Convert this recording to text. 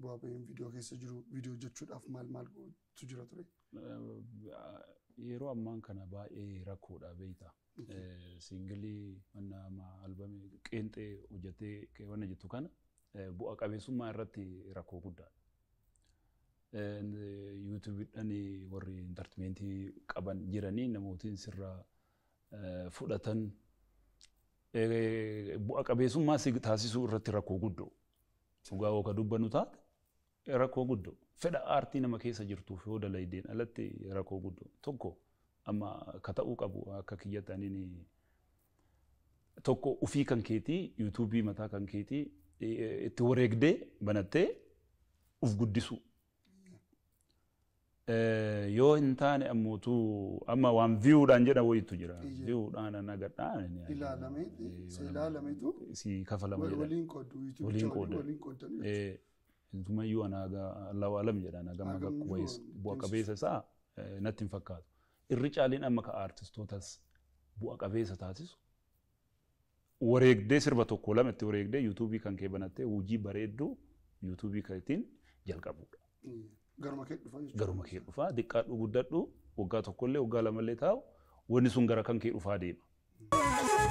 Bu'aa ba'iin viidiyoo keessa jiru viidiyoo hojjechuudhaaf maal maal gootu jira ture? Yeroo ammaan kana baay'ee rakkoodha beekta. Siingilii manna amma albamii qeenxee hojjettee keewwanna jettu kana bu'a qabeessummaa irratti rakkoo guddaadha. Yuutuubiidhaan warri intartimentii qaban jiranii namootiin sirraa fudhatan bu'a qabeessummaa si taasisuu irratti rakkoo guddoo. Dhugaa yoo ka dubbannu taate rakkoo guddo fedha aartii nama keessa jirtuuf yoo dalaydeen alatti rakkoo guddo tokko amma ka ta'uu qabu akka kiyyatti anini tokko ufii kan keetii yuutuubii mataa kan keetii itti wareegdee banattee uf guddisuu. yoo hin taane ammuutu amma waan view dhaan jedha wayitu jira. Iyya. View dhaan ana gadhaan ni argina. ilaalamee si ilaalametu si kafalama wal- jedha. waliin qoodu Waliin yuutubicha waliin qooda. waliin qoodan Eh, Intumayyuu ana haga Allahu alam jedha ana gama Hagam bakku iyyuu wayis deemsisa. bu'a qabeessa isaa eh, natti hin fakkaatu. Irri caaliin amma ka aartistootas bu'a qabeessa taasisu wareegdee sirba tokko lama itti wareegdee yuutuubii kan kee banattee hojii bareedduu yuutuubii keetiin jalqabuudha. Garuma kee dhufa jechuudha. Garuma kee dhufaa diqqaadhu guddadhu waggaa tokkollee waggaa lamallee taa'u wanni sun gara kan kee dhufaa deema.